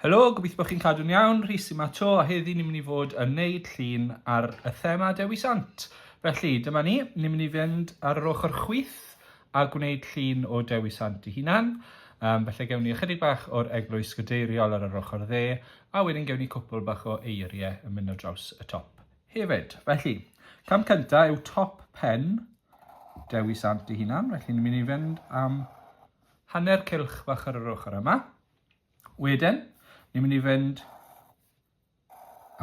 Helo, gobeithio bod chi'n cadw'n iawn, Rhys yma to, a heddi ni'n mynd i fod yn neud llun ar y thema Dewi Sant. Felly, dyma ni, ni'n mynd i fynd ar yr ochr chwith a gwneud llun o Dewi Sant i hunan. Um, felly gewn ni ychydig bach o'r eglwys gadeiriol ar yr ochr dde, a wedyn gewn ni cwpl bach o eiriau yn mynd o draws y top. Hefyd. Felly, cam cyntaf yw top pen Dewi Sant ei hunan. Felly, ni'n mynd i fynd am hanner cylch fach ar yr ochr yma. Wedyn, ni'n mynd i fynd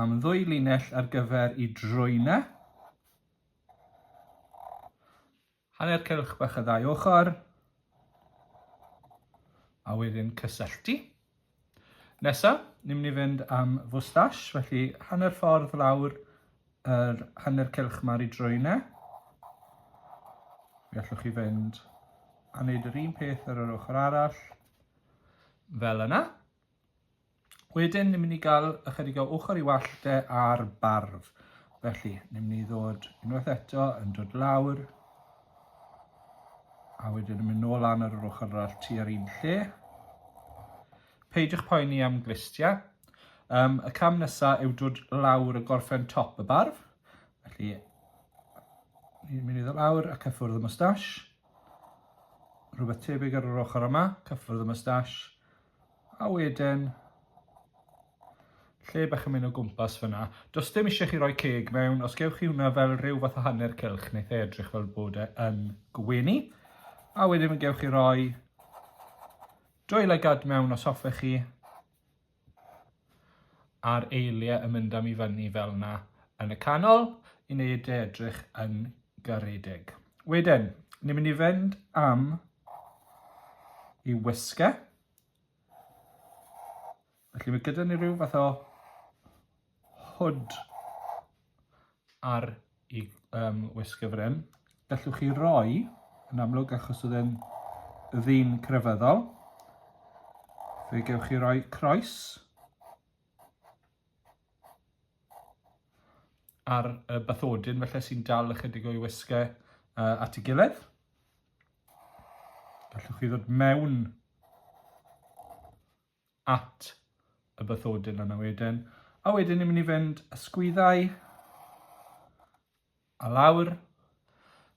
am ddwy linell ar gyfer i drwyna. Hanner cylch bach y ddau ochr. A wedyn cysylltu. Nesa, ni'n mynd i fynd am fwstash, felly hanner ffordd lawr yr hanner cylch ma'r i drwyne. Mi allwch chi fynd a wneud yr un peth ar yr ochr arall, fel yna. Wedyn, ni'n mynd i gael ychydig o ochr i wallde ar barf. Felly, ni'n mynd i ddod unwaith eto yn dod lawr, a wedyn yn mynd nôl lan ar yr ochr arall tu ar un lle. Peidiwch poeni am glistiau. Um, y cam nesaf yw dod lawr y gorffen top y barf. Felly, ni'n mynd i ddod lawr a cyffwrdd y mustache. Rhywbeth tebyg ar yr ochr yma, cyffwrdd y mustache. A wedyn, lle bach yn mynd o gwmpas fyna. Does dim eisiau chi roi ceg mewn, os gewch chi hwnna fel rhyw fath o hanner cylch, neu e edrych fel bod e yn gwenu. A wedyn fe gewch chi roi dwy lygad mewn os hoffech chi, a'r eiliau yn mynd am i fyny fel yna yn y canol i wneud e edrych yn garedig. Wedyn, ni'n mynd i fynd am i wisga. Felly mae gyda ni rhyw fath o hwd ar i um, wisg y frym. Gallwch chi roi, yn amlwg achos oedd e'n ddyn crefyddol, fe gewch chi roi croes ar y bathodyn felly sy'n dal ychydig o'i wisgau uh, at y gilydd. Gallwch chi ddod mewn at y bathodyn yna wedyn. A wedyn ni'n mynd i fynd y sgwyddau a lawr.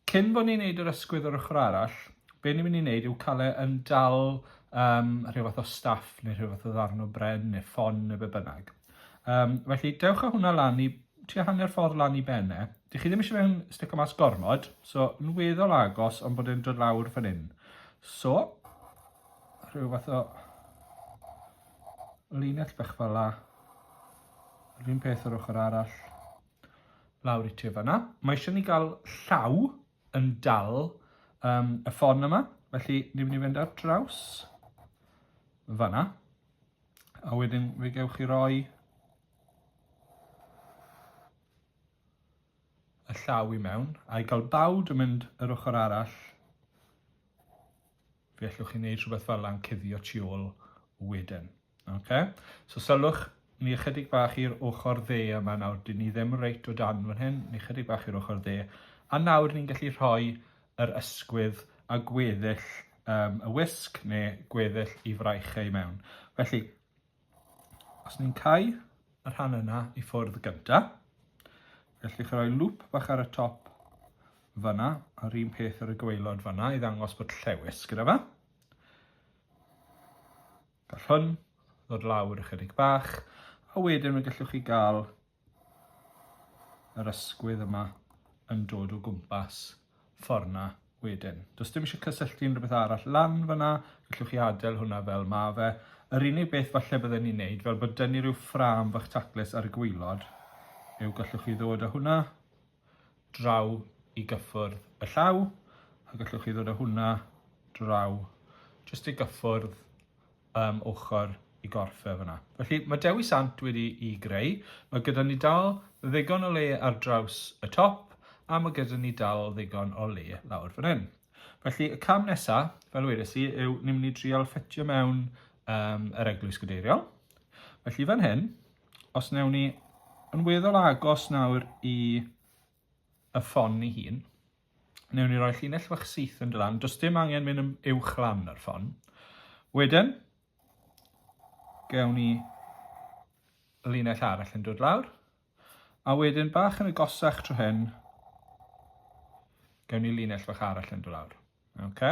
Cyn bod ni'n neud yr ysgwydd o'r ochr arall, be ni'n mynd i neud yw cael e yn dal um, rhyw fath o staff neu rhyw fath o ddarn o bren neu ffon neu be bynnag. Um, felly, dewch â hwnna lan i tua hanner ffordd lan i benne. Dych chi ddim eisiau fe'n sticio mas gormod, so yn weddol agos ond bod e'n dod lawr fan hyn. So, Rhyw fath o linell bach fel la. Yr un peth yr ochr arall. Lawr i ti fanna. Mae eisiau ni gael llaw yn dal um, y ffon yma. Felly ni'n mynd i fynd ar draws fanna. A wedyn fe gewch chi roi y llaw i mewn. A'i gael bawd yn mynd yr ochr arall Fe allwch chi wneud rhywbeth fel yna'n cuddio tu ôl wedyn. Okay? So sylwch ni ychydig bach i'r ochr dde yma nawr, dyn ni ddim reit o dan fan hyn, ni ychydig bach i'r ochr dde. A nawr ni'n gallu rhoi yr ysgwydd a gweddill um, y wisg neu gweddill i fraich ei mewn. Felly, Os ni'n cau y rhan yna i ffwrdd gynta, gallwch chi roi lŵp bach ar y top fyna, a'r un peth ar y gweilod fyna i ddangos bod llewis gyda fe. Gall hwn ddod lawr ychydig bach, a wedyn fe gallwch chi gael yr ysgwydd yma yn dod o gwmpas ffordd 'na wedyn. Does dim eisiau cysylltu unrhyw beth arall lan fyna, gallwch chi adael hwnna fel ma fe. Yr unig beth falle bydden ni'n neud, fel bod dynnu rhyw ffrâm fach taclus ar y gwylod, yw gallwch chi ddod â hwnna draw i gyffwrdd y llaw a gallwch chi ddod â hwnna draw jyst i gyffwrdd um, ochr i gorff e fyna. Felly mae Dewi Sant wedi i greu, mae gyda ni dal ddigon o le ar draws y top a mae gyda ni dal ddigon o le lawr fan hyn. Felly y cam nesaf, fel wedes i, yw ni'n mynd i trial ffetio mewn um, yr eglwys gadeiriol. Felly fan hyn, Os newn ni yn weddol agos nawr i y ffon ni hun, newn ni roi llinell fach syth yn dy lan. Does dim angen mynd yn uwch lan yr ffon. Wedyn, gewn ni linell arall yn dod lawr. A wedyn bach yn y gosach tro hyn, gewn ni linell fach arall yn dod lawr. Oce.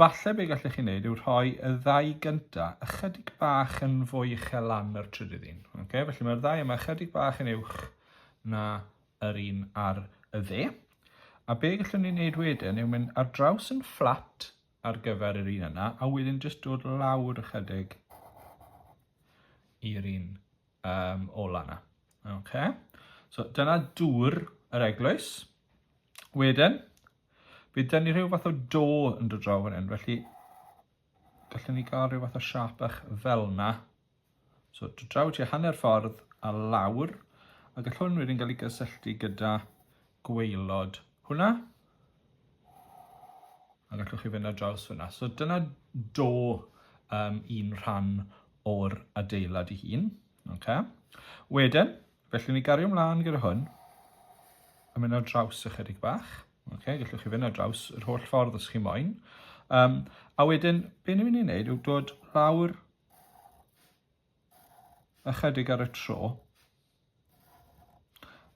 Falle be gallech chi wneud yw rhoi y ddau gynta ychydig bach yn fwy uchel lan yr trydydd un. Oce, felly mae'r ddau yma ychydig bach yn uwch na yr un ar y dde. A be gallwn ni wneud wedyn yw mynd ar draws yn fflat ar gyfer yr un yna, a wedyn jyst dod lawr ychydig i'r un um, ola yna. Okay. So dyna dŵr yr eglwys. Wedyn, Bydd gen ni rhyw fath o do yn dod draw fan hyn, felly gallwn ni gael rhyw fath o siap bach fel yna. So, dod draw ti hanner ffordd a lawr, a gall hwn wedyn gael ei gysylltu gyda gweilod hwnna. A gallwch chi fynd ar draws fyna. So, dyna do um, un rhan o'r adeilad i hun. Okay. Wedyn, Felly ni gario mlaen gyda hwn. A mynd ar draws ychydig bach. Okay, gallwch chi fynd ar draws yr holl ffordd os chi moyn. Um, a wedyn, be ni'n mynd i wneud yw dod lawr ychydig ar y tro.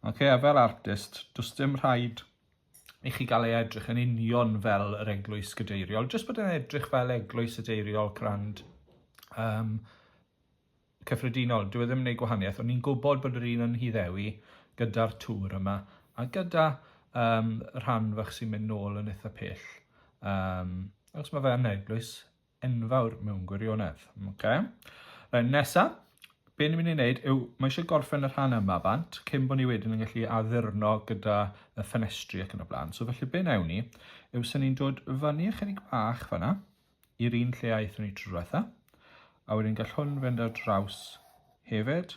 Okay, a fel artist, does dim rhaid i chi gael ei edrych yn union fel yr eglwys gydeiriol, jyst bod yn edrych fel eglwys y deiriol crand um, cyffredinol, dyw e ddim yn neud gwahaniaeth, o'n i'n gwybod bod yr un yn Nhŷ Ddewi gyda'r tŵr yma, a gyda um, rhan fach sy'n mynd nôl yn eitha pell. Um, achos mae fe yn eglwys enfawr mewn gwirionedd. Okay? Right, nesa, be ni'n mynd i wneud yw, mae eisiau gorffen y rhan yma bant, cyn bod ni wedyn yn gallu addurno gyda y ffenestri ac yn y blaen. So felly be newn ni, yw sy'n ni'n dod fyny ychydig bach fanna, i'r un lle aethon ni tro diwetha. A wedyn gall hwn fynd ar draws hefyd.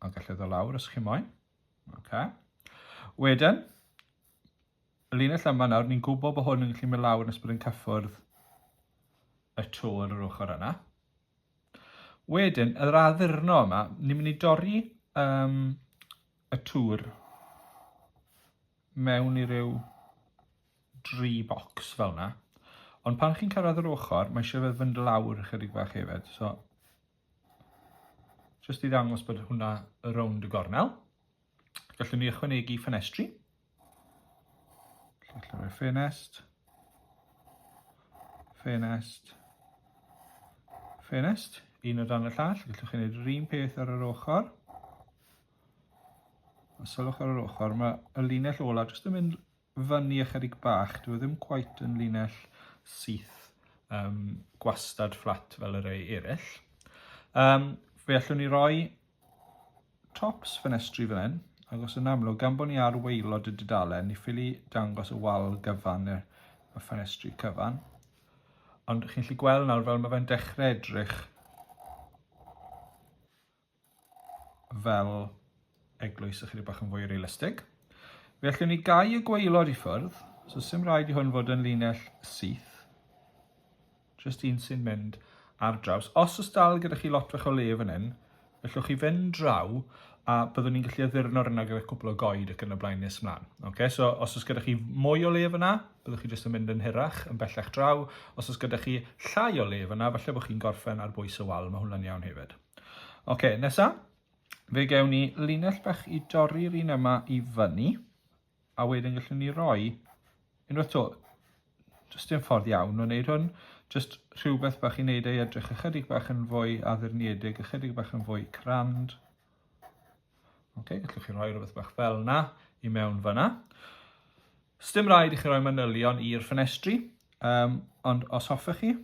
A gall eddo lawr os chi moyn. Okay. Wedyn, y linell yma nawr, ni'n gwybod bod hwn yn gallu mynd lawr nes bod yn cyffwrdd y to ar yr ochr yna. Wedyn, yr addurno yma, ni'n mynd i dorri um, y tŵr mewn i ryw dri bocs fel yna. Ond pan chi'n cyrraedd yr ochr, mae eisiau fe fynd lawr ychydig bach hefyd. So, jyst i ddangos bod hwnna rownd y gornel. Gallwn ni ychwanegu ffenestri. Gallwn ni ffenest. Ffenest. Ffenest. Un o dan y llall. Gallwch chi wneud yr un peth ar yr ochr. A sylwch ar yr ochr, mae y linell ola jyst yn mynd fyny ychydig bach, dyw e ddim cweit yn linell syth um, gwastad fflat fel y rei eraill. Um, fe allwn ni roi tops ffenestri fel hyn, ac os yn amlwg, gan bod ni ar weilod y dudalen, ni ffili dangos y wal gyfan neu'r y ffenestri cyfan. Ond chi'n gallu gweld nawr fel mae fe'n dechrau edrych fel eglwys ychydig bach yn fwy realistig. Fe allwn ni gau y gweilod i ffwrdd, so sy'n rhaid i hwn fod yn linell syth. Just un sy'n mynd ar draws. Os oes dal gyda chi lot fach o le fan hyn, gallwch chi fynd draw a byddwn ni'n gallu addurno'r yna gyda cwpl o goed ac yn y blaen nes ymlaen. Okay, so os oes gyda chi mwy o lef yna, byddwch chi jyst yn mynd yn hirach, yn bellach draw. Os oes gyda chi llai o lef yna, falle bod chi'n gorffen ar bwys y wal, mae hwnna'n iawn hefyd. Ok, nesa, fe gewn ni linell bach i dorri'r un yma i fyny, a wedyn gallwn ni roi unwaith to, jyst dim ffordd iawn o wneud hwn, jyst rhywbeth bach i wneud ei edrych ychydig bach yn fwy addurniedig, ychydig bach yn fwy crand. Ok, gallwch chi roi rhywbeth bach fel na i mewn fyna. Sdim rhaid i chi roi manylion i'r ffenestri, um, ond os hoffech chi,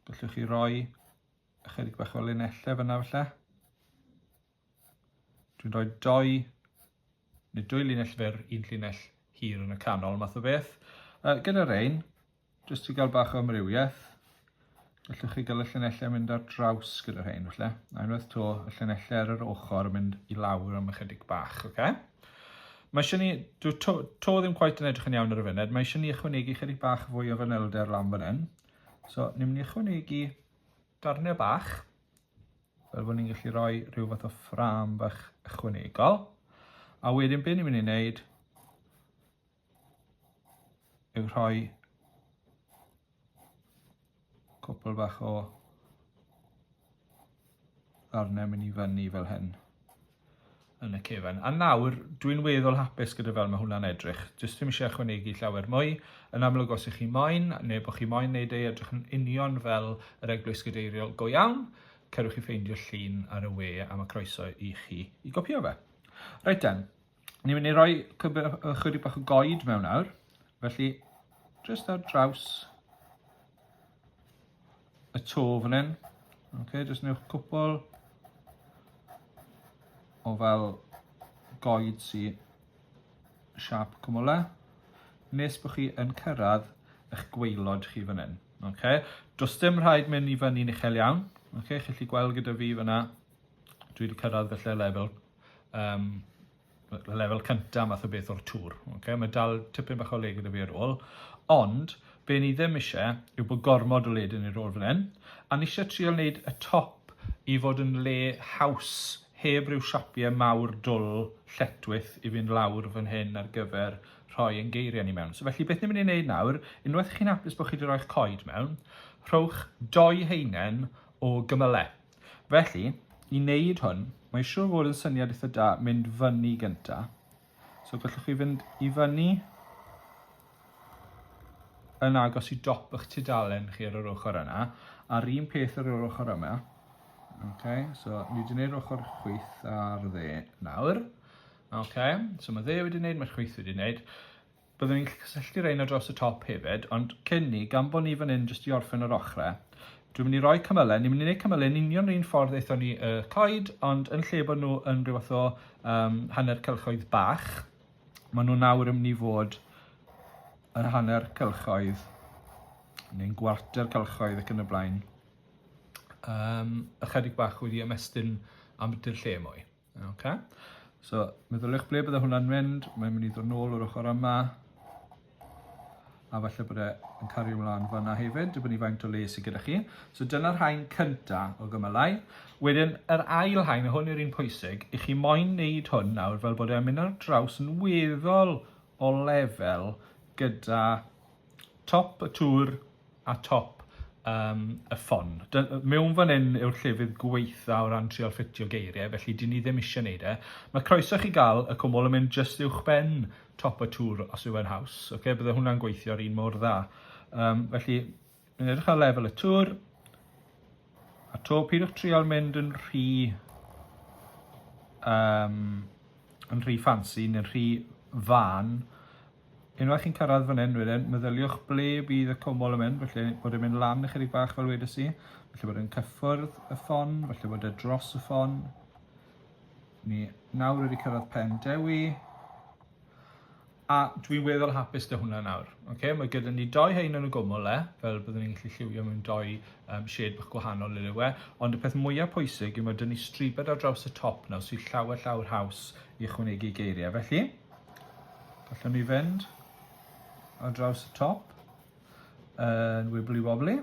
Gallwch chi roi ychydig bach o linellau fyna falle. Dwi'n rhoi doi, neu dwy linell fer, un linell hir yn y canol, math o beth. Uh, gyda'r ein, jyst i gael bach o amrywiaeth, gallwch chi gael y llinellau yn mynd ar draws gyda'r ein, falle. A unwaith to, y llinellau ar yr ochr yn mynd i lawr am ychydig bach, oce? Okay? Mae eisiau ni, dwi to, to ddim cweit yn edrych yn iawn ar y funud, mae eisiau ni ychwanegu chydig bach fwy o fanylder lan fan hyn. So, ni'n mynd i ychwanegu darnau bach, fel bod ni'n gallu rhoi rhyw fath o ffram fach ychwanegol. A wedyn beth ni'n mynd i wneud yw rhoi Cwpl bach o ddarnau mynd i fyny fel hyn yn y cefn. A nawr, dwi'n weddol hapus gyda fel mae hwnna'n edrych. Jyst ddim eisiau ychwanegu llawer mwy. Yn amlwg os ych chi moyn, neu bod chi moyn neud ei edrych yn union fel yr eglwys gadeiriol go iawn, cerwch i ffeindio llun ar y we a mae croeso i chi i gopio fe. Reit den, Ni'n mynd i roi chydig bach o goed mewn nawr, felly jyst ar draws y to fan hyn. Okay, jyst newch cwpl o fel goed sy siap cwmwle, nes bod chi yn cyrraedd eich gweilod chi fan hyn. Okay? Does dim rhaid mynd i fyny'n uchel iawn. Okay? Chi'n gallu gweld gyda fi fyna, dwi wedi cyrraedd felly level um, lefel cyntaf math o beth o'r tŵr. Okay? Mae dal tipyn bach o le gyda fi ar ôl, ond be ni ddim eisiau yw bod gormod o led yn ei rôl fan hyn, a ni eisiau trial wneud y top i fod yn le haws heb ryw siapiau mawr dwl lletwyth i fynd lawr fan hyn ar gyfer rhoi yn geiriau ni mewn. So felly beth ni'n mynd i wneud nawr, unwaith chi'n hapus bod chi wedi rhoi'ch coed mewn, rhowch doi heinen o gymylau. Felly, i wneud hwn, mae'n siŵr fod yn syniad eitha da mynd fyny gynta. So gallwch chi fynd i fyny yn agos i dop eich tudalen chi ar yr ochr yna, a'r un peth ar yr ochr yma. Okay, so ni wedi gwneud ochr chwyth ar dde nawr. Okay, so mae dde wedi gwneud, mae'r chwyth wedi gwneud. Byddwn i'n gallu cysylltu rhein ar draws y top hefyd, ond cyn ni, gan bod ni fan hyn jyst i orffen yr ochrau, dwi'n mynd i roi cymylau, ni'n mynd i wneud cymylau yn union yr un ffordd aethon ni y coed, ond yn lle bod nhw yn rhyw fath o um, hanner cylchoedd bach, maen nhw nawr yn mynd i fod yn hanner cylchoedd neu'n gwarter cylchoedd ac yn y blaen um, ychydig bach wedi ymestyn am ydy'r lle mwy. Ok, so meddyliwch ble bydde hwnna'n mynd, mae'n mynd i ddod nôl o'r ochr yma, a falle bod e'n cario ymlaen fanna hefyd, dibynnu faint o le sydd gyda chi. So dyna'r hain cynta o gymylau. Wedyn, yr ail hain, a hwn yw'r un pwysig, i chi moyn wneud hwn nawr fel bod e'n mynd ar draws yn weddol o lefel gyda top y tŵr a top um, y ffon. Mewn fan hyn yw'r llefydd gweitha o ran trial ffitio geiriau, felly dyn ni ddim eisiau gwneud e. Mae croeso chi gael y cwmwl yn mynd just uwch ben top y tŵr os yw'n haws. Okay? Bydde hwnna'n gweithio'r un mor dda. Um, felly, yn edrych ar lefel y tŵr, a to pidwch trial mynd yn rhy um, yn rhy fancy neu'n rhy fan Unwaith chi'n cyrraedd fan hyn wedyn, meddyliwch ble bydd y cwmwl yn mynd, felly bod e'n mynd lan ychydig bach fel wedys i, felly bod e'n cyffwrdd y ffon, felly bod e dros y ffon. Ni nawr wedi cyrraedd pen dewi, a dwi'n weddol hapus dy hwnna nawr. Okay? Mae gyda ni doi hein yn y gwmwl le, fel byddwn ni'n gallu lliwio mewn doi um, shed bach gwahanol le we, ond y peth mwyaf pwysig yw mae dyn ni stribed ar draws y top nawr sy'n llawer llawer haws i ychwanegu geiriau. Felly, Gallwn ni fynd ar draws y top yn wibli wobli.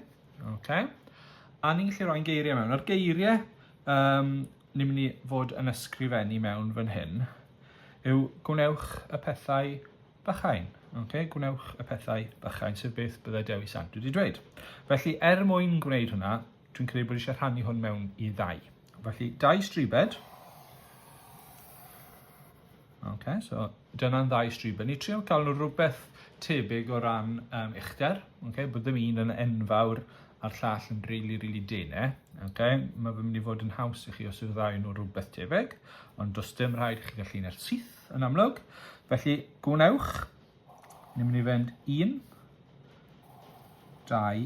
Okay. A ni'n gallu rhoi'n geiriau mewn. A'r geiriau um, ni'n mynd i fod yn ysgrifennu mewn fan hyn yw gwnewch y pethau bychain. Okay? Gwnewch y pethau bychain, sef beth byddai Dewi Sant wedi dweud. Felly, er mwyn gwneud hwnna, dwi'n credu bod eisiau rhannu hwn mewn i ddau. Felly, dau stribed. Ok, so dyna'n ddau striben. Ni trio cael nhw rhywbeth tebyg o ran um, uchder, okay? bod ddim un yn enfawr a'r llall yn really, really dene. Okay? Mae fe'n mynd i fod yn haws i chi os yw'r ddau nhw rhywbeth tebyg, ond does dim rhaid i chi gallu neu'r syth yn amlwg. Felly, gwnewch, ni'n mynd i fynd un, dau,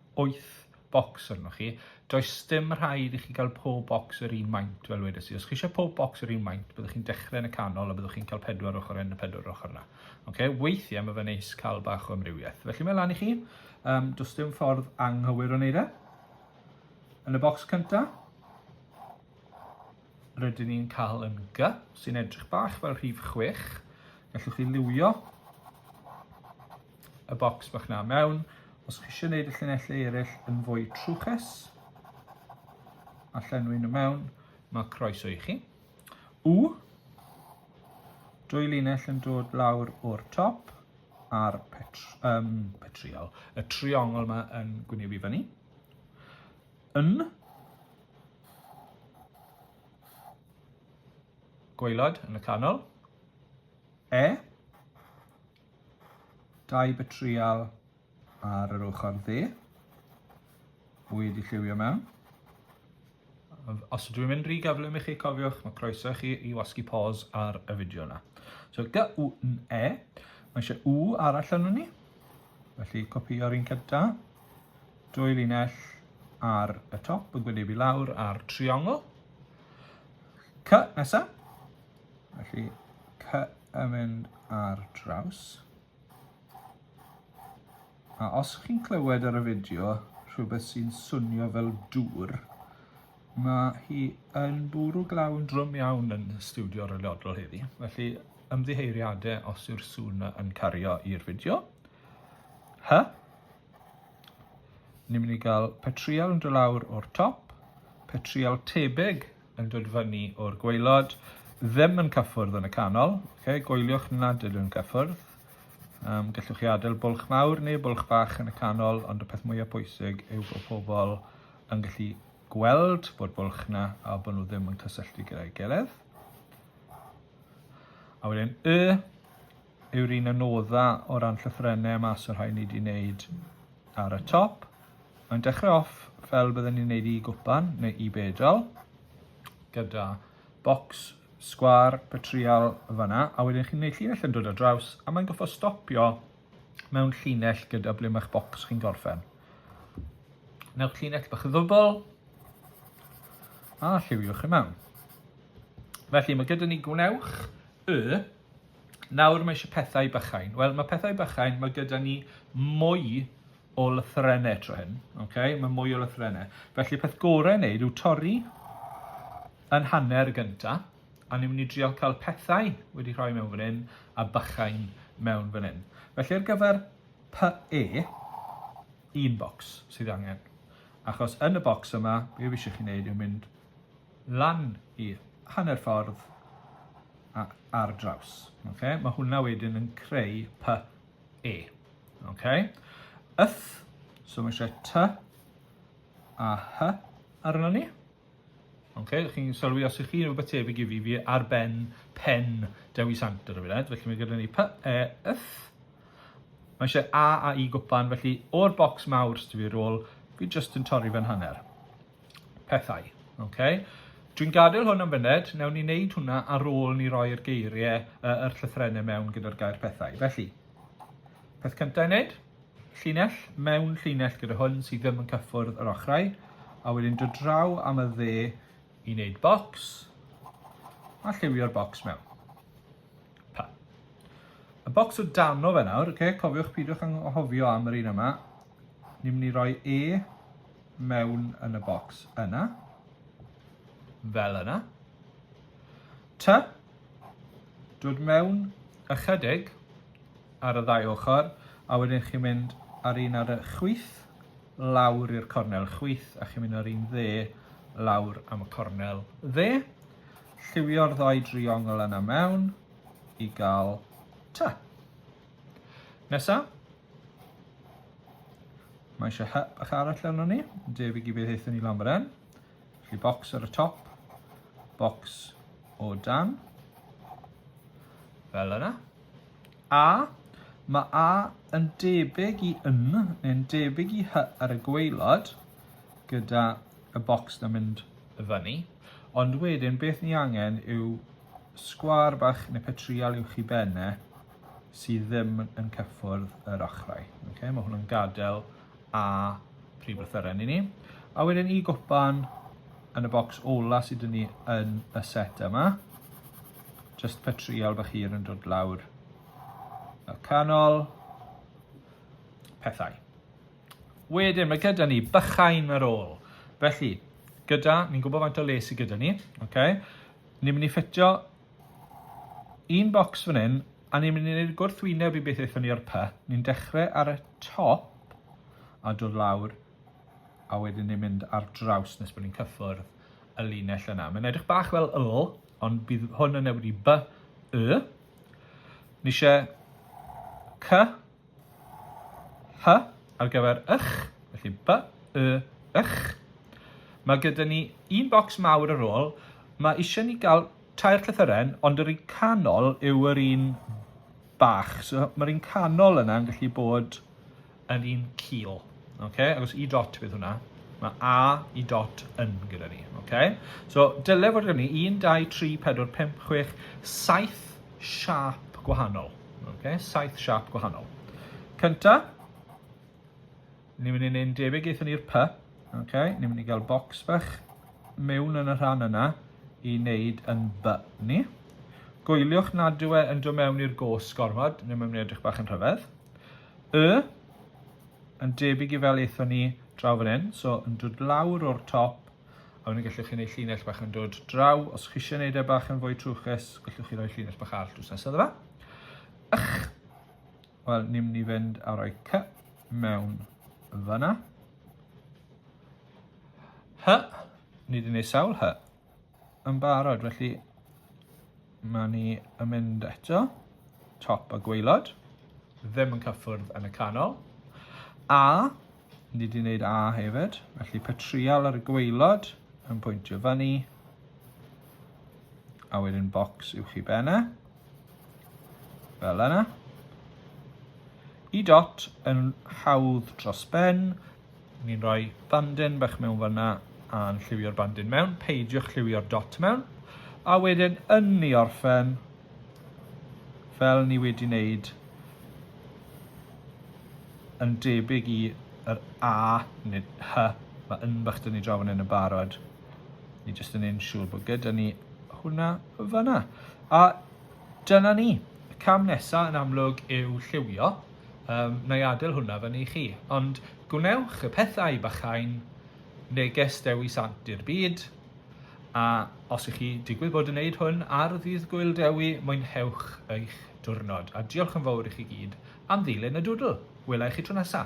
wyth bocs arnoch chi. Does dim rhaid i chi gael pob bocs yr un maint, fel wedes i. Os chi eisiau pob bocs yr un maint, byddwch chi'n dechrau yn y canol a byddwch chi'n cael pedwar ochr yn y pedwar ochr yna. Okay? Weithiau mae fe'n neis cael bach o amrywiaeth. Felly mae lan i chi. Um, does dim ffordd anghywir o wneud e. Yn y bocs cyntaf, rydyn ni'n cael yn G, sy'n edrych bach fel rhif 6. Gallwch chi liwio y bocs bach na mewn. Os chi eisiau gwneud y llinellau eraill yn fwy trwchus, a llenwi nhw mewn, mae croeso i chi. U, dwy linell yn dod lawr o'r top a'r petr, um, petriol, y triongl yma yn gwynebu fyny. Yn, gwaelod yn y canol. E, Dau betrial ar yr ochr dde. Bwyd i lliwio mewn. Os ydw i'n mynd rhy gyflym i chi cofiwch, mae croeso chi i wasgu pause ar y fideo yna. So, G-U-N-E, mae eisiau U arall yno ni. Felly, copio'r un cyda. Dwy linell ar y top yn gwynebu lawr ar triongl. C nesaf. Felly, C yn mynd ar draws. A os chi'n clywed ar y fideo rhywbeth sy'n swnio fel dŵr, mae hi yn bwrw glawn drwm iawn yn studio rylliodol heddi, felly ymddiheiriadau os yw'r sŵn yn cario i'r fideo. Hy? Ni'n mynd i gael petriol yn dod lawr o'r top, petriol tebyg yn dod fyny o'r gwaelod, ddim yn cyffwrdd yn y canol, okay? gwyliwch nad ydyn nhw'n cyffwrdd. Um, gallwch chi adael bwlch mawr neu bwlch bach yn y canol, ond y peth mwyaf pwysig yw bod pobl yn gallu gweld bod bwlch na a bod nhw ddim yn cysylltu gyda'i gilydd. A wedyn y yw'r un anodda o ran llythrennau y mas o'r rhai ni wedi wneud ar y top. Mae'n dechrau off fel byddwn ni'n wneud i gwpan neu i bedal gyda bocs sgwar petrial fanna a wedyn chi'n gwneud llinell yn dod ar draws a mae'n goffo stopio mewn llinell gyda ble mae'ch bocs chi'n gorffen. Newch llinell bach ddwbl a lliwiwch i mewn. Felly mae gyda ni gwnewch y Nawr mae eisiau pethau bychain. Wel, mae pethau bychain, mae gyda ni mwy o lythrennau tro hyn. Okay? Mae mwy o lythrennau. Felly, peth gorau wneud yw torri yn hanner y gyntaf, a ni'n mynd i drio cael pethau wedi rhoi mewn fan hyn a bychain mewn fan hyn. Felly, ar gyfer PE, un bocs sydd angen. Achos yn y bocs yma, be fi eisiau chi wneud yw mynd lan i hanner ffordd a ar draws. Okay? Mae hwnna wedyn yn creu p, e. Okay? Yth, so mae eisiau t a h arno ni. Okay? Ydych chi'n sylwi os ydych chi'n rhywbeth tebyg i fi, fi ar ben pen Dewi Sant ar y funud. Felly mae gyda ni p, e, yth. Mae eisiau a a i gwpan, felly o'r bocs mawr sydd fi rôl, fi jyst yn torri fe'n hanner. pethau. Okay? Dwi'n gadael hwn am fyned, newn ni wneud hwnna ar ôl ni roi'r geiriau, uh, yr llythrennau mewn gyda'r gair pethau. Felly, peth cyntaf i wneud, llinell, mewn llinell gyda hwn sydd ddim yn cyffwrdd yr ochrau, a wedyn dod draw am y dde i wneud bocs, a lliwio'r bocs mewn. Pa. Y bocs o dano fe nawr, okay, cofiwch pidwch anghofio am yr un yma, ni'n mynd i roi E mewn yn y bocs yna, fel yna. T, dod mewn ychydig ar y ddau ochr, a wedyn chi'n mynd ar un ar y chwyth, lawr i'r cornel chwyth, a chi'n mynd ar un dde, lawr am y cornel dde. Lliwio'r ddau driongl yna mewn i gael T. Nesa, Mae eisiau hep bach arall arno ni, yn debyg i beth eithon ni lan fan hyn. Felly bocs ar y top, bocs o dan, fel yna. A, mae A yn debyg i yn, neu'n debyg i hy ar y gweilod, gyda y bocs na mynd y fyny. Ond wedyn, beth ni angen yw sgwar bach neu petrial uwch i benne, sydd ddim yn cyffwrdd yr ochrau. Okay? Mae hwn yn gadael a prif lythyren i ni. A wedyn i gwpan yn y bocs ola sydd dyn ni yn y set yma. Just pe trial bych hir yn dod lawr y canol. Pethau. Wedyn mae gyda ni bychain ar ôl. Felly, gyda, ni'n gwybod faint o les sydd gyda ni. Okay? Ni'n mynd i ffitio Un bocs fan hyn, a ni'n mynd i wneud gwrthwyneb i beth aethon ni ar py. Ni'n dechrau ar y top a dod lawr a wedyn ni'n mynd ar draws nes bod ni'n cyffwrdd y linell yna. Mae'n edrych bach fel Y, ond bydd hwn yn newid i B, Y. Ni eisiau C, H ar gyfer ych, felly by, y, ych. Mae gyda ni un bocs mawr ar ôl. Mae eisiau ni gael tair llythyren, ond yr un canol yw yr un bach. So mae'r un canol yna yn gallu bod yn un cil. Okay? Agos i dot bydd hwnna. Mae A i dot yn gyda ni. Okay? So dyle fod gen ni 1, 2, 3, 4, 5, 6, 7 siâp gwahanol. Okay? Saith siâp gwahanol. Cynta, ni'n mynd i wneud debyg eithon ni'r py. Okay? Ni'n mynd i gael bocs fach mewn yn y rhan yna i wneud yn by ni. Gwyliwch nad yw e yn dod mewn i'r gos gormod, ni'n mynd i edrych bach yn rhyfedd. Y, yn debyg i fel eithon ni draw fan hyn, so yn dod lawr o'r top A wedyn gallwch chi wneud llinell bach yn dod draw. Os chi eisiau gwneud e bach yn fwy trwchus, gallwch chi roi llinell bach all drws nesaf dda. Ych! Wel, ni'n mynd i fynd a roi cy mewn fyna. Hy! Ni wedi gwneud sawl hy. Yn barod, felly mae ni yn mynd eto. Top a gweilod. Ddim yn cyffwrdd yn y canol. A Ni wedi gwneud A hefyd, felly petrial ar y gweilod yn pwyntio fyny. A wedyn bocs uwch i benne. Fel yna. I dot yn hawdd dros ben. Ni'n rhoi bandin bach mewn fyna a'n lliwio'r bandin mewn. Peidiwch lliwio'r dot mewn. A wedyn yn ni orffen fel ni wedi wneud yn debyg i yr A nid H mae yn bach dyn ni draw yn yn barod ni jyst yn ein siŵr bod gyda ni hwnna fyna a dyna ni y cam nesaf yn amlwg yw lliwio um, na i adael hwnna fyny i chi ond gwnewch y pethau bachain neges dewi sant i'r byd A os ych chi digwydd bod yn neud hwn ar ddydd Gwyl Dewi, mwynhewch eich diwrnod, a diolch yn fawr i chi gyd am ddilyn y dwdl! Wela i chi tro nesa!